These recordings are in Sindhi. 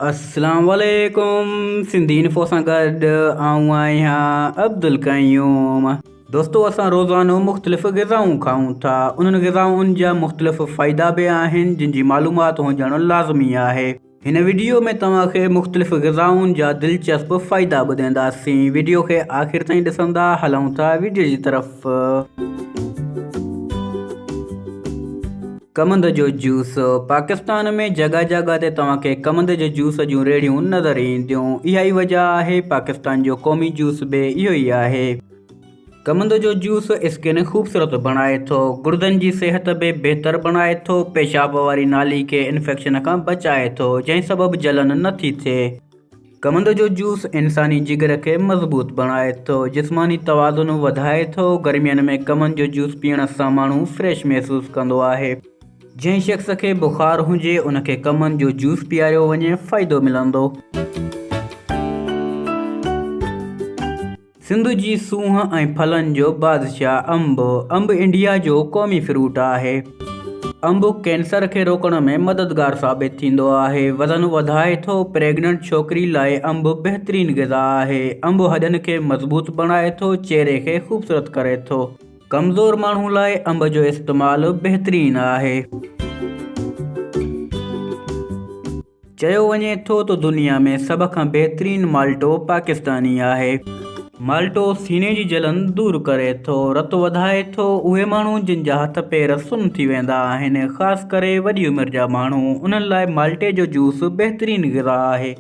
اسلام عليڪم سنڌي انفو سان گڏ آئون آهيان عبدالقيوم دوستو اسان روزانو مختلف غذائون کائون ٿا انهن غذائن جا مختلف فائدا به آهن جن جي معلومات هجڻ لازمي آهي هن وڊيو ۾ توهان کي مختلف غذائن جا دلچسپ فائدا ٻڌينداسين وڊيو کي آخر تائين ڏسندا هلون ٿا وڊيو جي طرف. ڪمند جو جوس، پاڪستان ۾ جڳهه جڳهه تي توهان کي ڪمند جي جوس جون ريڙهيون نظر اينديون. اها ئي وجهه آهي پاڪستان جو قومي جوس به اهو ئي آهي. ڪمند جو جوس اسڪن خوبصورت بڻائي ٿو، گڙدن جي صحت به بهتر بڻائي ٿو، پيشاب واري نالي کي انفيڪشن کان بچائي ٿو، جنهن سبب جلن نه ٿي ٿئي. ڪمند جو جوس انساني جگر کي مضبوط بڻائي ٿو، جسماني توازن وڌائي ٿو، گرمين ۾ ڪمند جو جوس پيئڻ سان ماڻهو فريش محسوس ڪندو آهي. جنهن شخص کي بخار هجي ان کي ڪمند جو جوس پياريو وڃي فائدو ملندو. سنڌ جي سونهن ۽ ڦلن جو بادشاهه انب، انب انڊيا جو قومي فروٽ آهي. انب ڪينسر کي روڪڻ ۾ مددگار ثابت ٿيندو آهي، وزن وڌائي ٿو، پريگننٽ ڇوڪري لاء انب بهترين غذا آهي، انب هڏن کي مضبوط بڻائي ٿو، چهري کي خوبصورت ڪري ٿو، ڪمزور ماڻهو لاء انب جو استعمال بهترين آهي. چيو وڃي ٿو ته دنيا ۾ سڀ کان بهترين مالٽو پاڪستاني آهي. مالٽو سيني جي جلن دور ڪري ٿو، رت وڌائي ٿو، اهي ماڻهو جن جا هٿ پير سن ٿي ويندا آهن، خاص ڪري وڏي عمر جا ماڻهو، انهن لاء مالٽي جو جوس بهترين غذا آهي.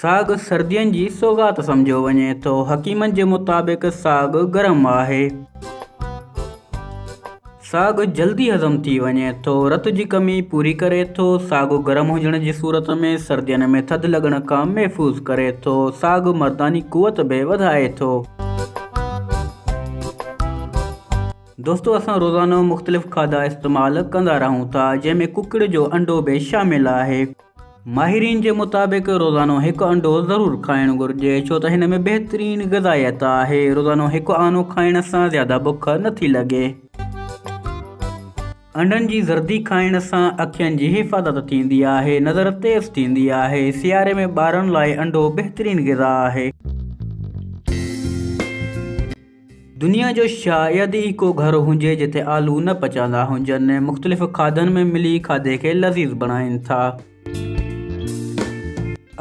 ساڳ سردين جي سوغات سمجهيو وڃي ٿو. حڪيمن جي مطابق ساڳ گرم آهي. ساڳ جلدي هضم ٿي وڃي ٿو. رت جي ڪمي پوري ڪري ٿو. ساڳ گرم هجڻ جي صورت ۾ سردين ۾ ٿڌ لڳڻ کان محفوظ ڪري ٿو. ساڳ مرداني قوت به وڌائي ٿو. دوستو اسان روزانو مختلف کاڌا استعمال ڪندا رهون ٿا جنهن ۾ ڪڪڙ جو انڊو به شامل آهي. ماهرين جي مطابق روزانو هڪ انڊو ضرور کائڻ گهرجي ڇو ته هن ۾ بهترين غذائيت آهي، روزانو هڪ آنو کائڻ سان زياده بک نه ٿي لڳي. انڊن جي زردي کائڻ سان اکين جي حفاظت ٿيندي آهي، نظر تيز ٿيندي آهي، سياري ۾ ٻارن لاء انڊو بهترين غذا آهي. دنيا جو شايد ئي ڪو گهر هجي جتي آلو نه پچاندا هجن. مختلف کاڌن ۾ ملي کاڌي کي لذيذ بڻائين ٿا.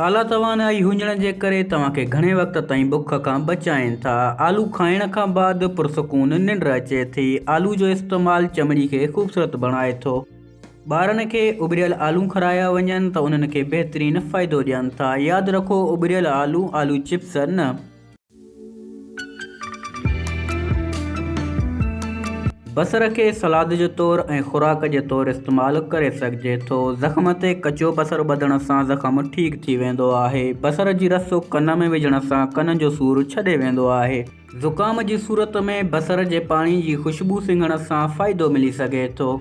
اعليٰ توانائي هجڻ جي ڪري توهان کي گهڻي وقت تائين بک کان بچائين ٿا. آلو کائڻ کان بعد پرسڪون ننڊ اچي ٿي. آلو جو استعمال چمڙي کي خوبصورت بڻائي ٿو. ٻارن کي اٻريل آلو کارايا وڃن ته انهن کي بهترين فائدو ڏين ٿا. ياد رکو اٻريل آلو، آلو چپس نه. بصر کي سلاد جي طور ۽ خوراڪ جي طور استعمال ڪري سگهجي ٿو. زخم تي ڪچو بصر ٻڌڻ سان زخم ٺيڪ ٿي ويندو آهي. بصر جي رس ڪن ۾ وجهڻ سان ڪن جو سور ڇڏي ويندو آهي. زڪام جي صورت ۾ بصر جي پاڻي جي خوشبو سنگهڻ سان فائدو ملي سگهي ٿو.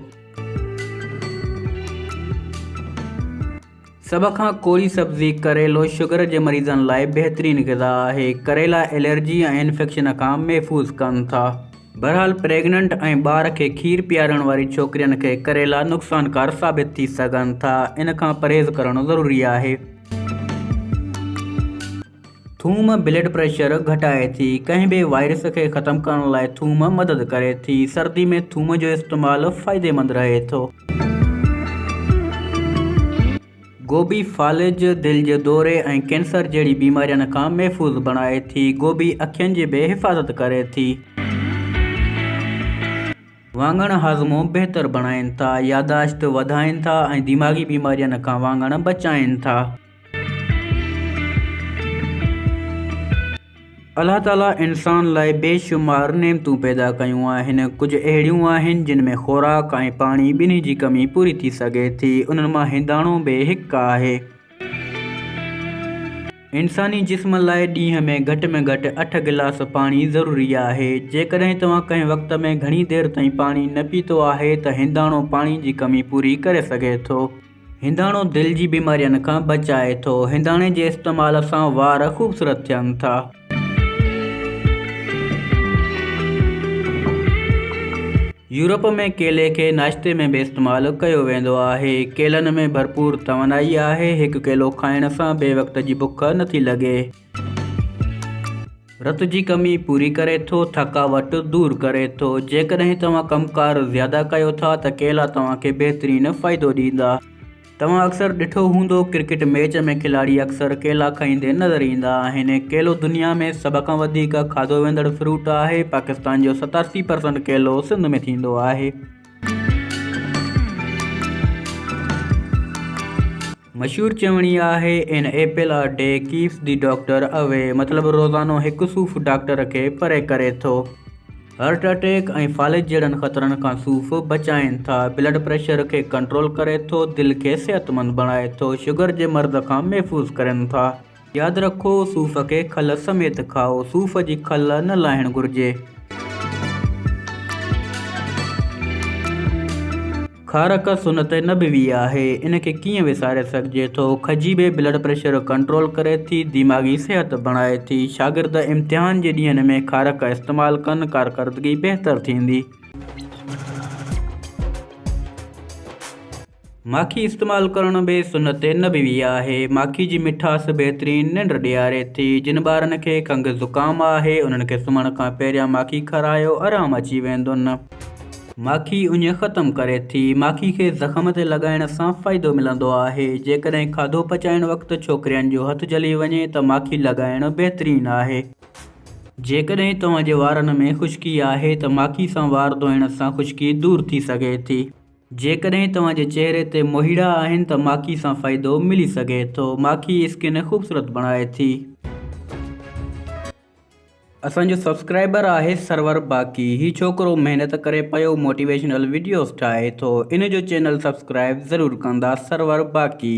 سڀ کان ڪوري سبزي ڪريلو شگر جي مريضن لاء بهترين غذا آهي. ڪريلا الرجي ۽ انفيڪشن کان محفوظ ڪن ٿا. بهرحال پريگننٽ ۽ ٻار کي کير پيارڻ واري ڇوڪرين کي ڪريلا نقصانڪار ثابت ٿي سگهن ٿا. ان کان پرهيز ڪرڻ ضروري آهي. ٿوم بلڊ پريشر گهٽائي ٿي. ڪنهن به وائرس کي ختم ڪرڻ لاء ٿوم مدد ڪري ٿي. سردي ۾ ٿوم جو استعمال فائديمند رهي ٿو. گوبي فالج دل جي دوري ۽ ڪينسر جهڙي بيمارين کان محفوظ بڻائي ٿي. گوبي اکين جي به حفاظت ڪري ٿي. واڱڻ هاضمو بهتر بڻائين ٿا، ياداشت وڌائين ٿا ۽ دماغي بيمارين کان واڱڻ بچائين ٿا. الله تعاليٰ انسان لاء بي شمار نعمتون پيدا ڪيون آهن. ڪجهه اهڙيون آهن جن ۾ خوراڪ ۽ پاڻي ٻنهي جي ڪمي پوري ٿي سگهي ٿي. انهن مان هنداڻو به هڪ آهي. انساني جسم لاء ڏينهن ۾ گهٽ ۾ گهٽ اٺ گلاس پاڻي ضروري آهي. جيڪڏهن توهان ڪنهن وقت ۾ گهڻي دير تائين پاڻي نه پيتو آهي ته هنداڻو پاڻي جي ڪمي پوري ڪري سگهي ٿو. هنداڻو دل جي بيمارين کان بچائي ٿو. هنداڻي جي استعمال سان وار خوبصورت ٿين ٿا. يورپ ۾ ڪيلي کي ناشتي ۾ به استعمال ڪيو ويندو آهي. ڪيلن ۾ ڀرپور توانائي آهي. هڪ ڪيلو کائڻ سان بي وقت جي بک نٿي لڳي. رت جي ڪمي پوري ڪري ٿو، ٿڪاوٽ دور ڪري ٿو. جيڪڏهن توهان ڪم ڪار زياده ڪيو ٿا ته ڪيلا توهان کي بهترين فائدو ڏيندا. توهان اڪثر ڏٺو هوندو ڪرڪيٽ ميچ ۾ کلاڙي اڪثر ڪيلا کائيندي نظر ايندا آهن. ڪيلو دنيا ۾ سڀ کان وڌيڪ کاڌو ويندڙ فروٽ آهي. پاڪستان جو ستاسي پرسنٽ ڪيلو سنڌ ۾ ٿيندو آهي. مشهور چوڻي آهي، an apple a day keeps the doctor away مطلب روزانو هڪ صوف ڊاڪٽر کي پري ڪري ٿو. هارٽ اٽيڪ ۽ فالج جهڙن خطرن کان صوف بچائين ٿا، بلڊ پريشر کي ڪنٽرول ڪري ٿو، دل کي صحتمند بڻائي ٿو، شگر جي مرض کان محفوظ ڪرين ٿا. ياد رکو صوف کي کل سميت کائو، صوف جي کل نه لاهڻ گهرجي. کارڪ سنت نبوي آهي، ان کي ڪيئن وساري سگهجي ٿو. کجي به بلڊ پريشر ڪنٽرول ڪري ٿي، دماغي صحت بڻائي ٿي. شاگرد امتحان جي ڏينهن ۾ کارڪ استعمال ڪن، ڪارڪردگي بهتر ٿيندي. ماکي استعمال ڪرڻ به سنت نبوي آهي. ماکي جي مٺاس بهترين ننڊ ڏياري ٿي. جن ٻارن کي کنگهه زڪام آهي انهن کي سمهڻ کان پهريان ماکي کارايو آرام اچي ويندن. ماکي اڃ ختم ڪري ٿي. ماکي کي زخم تي لڳائڻ سان فائدو ملندو آهي. جيڪڏهن کاڌو پچائڻ وقت ڇوڪرين جو هٿ جلي وڃي ته ماکي لڳائڻ بهترين آهي. جيڪڏهن توهان جي وارن ۾ خشڪي آهي ته ماکي سان وار ڌوئڻ سان خشڪي دور ٿي سگهي ٿي. جيڪڏهن توهان جي چهري تي موهيڙا آهن ته ماکي سان فائدو ملي سگهي ٿو. ماکي اسڪن خوبصورت بڻائي ٿي. اسان جو سبسڪرائبر آهي سرور باقي هي ڇوڪرو محنت ڪري پيو موٽيويشنل وڊيوز ٺاهي ٿو ان جو چينل سبسڪرائب ضرور ڪندا سرور باقي.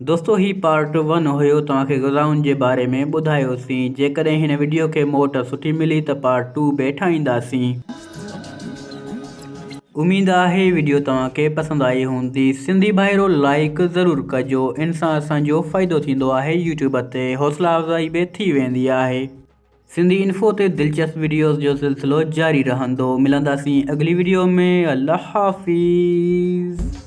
دوستو هي پارٽ ون هيو توهان کي غذائن جي باري ۾ ٻڌايو سين جيڪڏهن هن وڊيو کي موٽ سٺي ملي ته پارٽ ٽو به ٺاهيندا سين اميد آهي وڊيو توهان کي پسند آئي هوندي سنڌي ڀائرو لائيڪ ضرور ڪجو ان سان اسان جو فائدو ٿيندو آهي يوٽيوب تي حوصلا افزائي به ٿي ويندي آهي سنڌي انفو تي دلچسپ وڊيوز جو سلسلو جاري رهندو ملندا سين اڳلي وڊيو ۾ الله حافظ.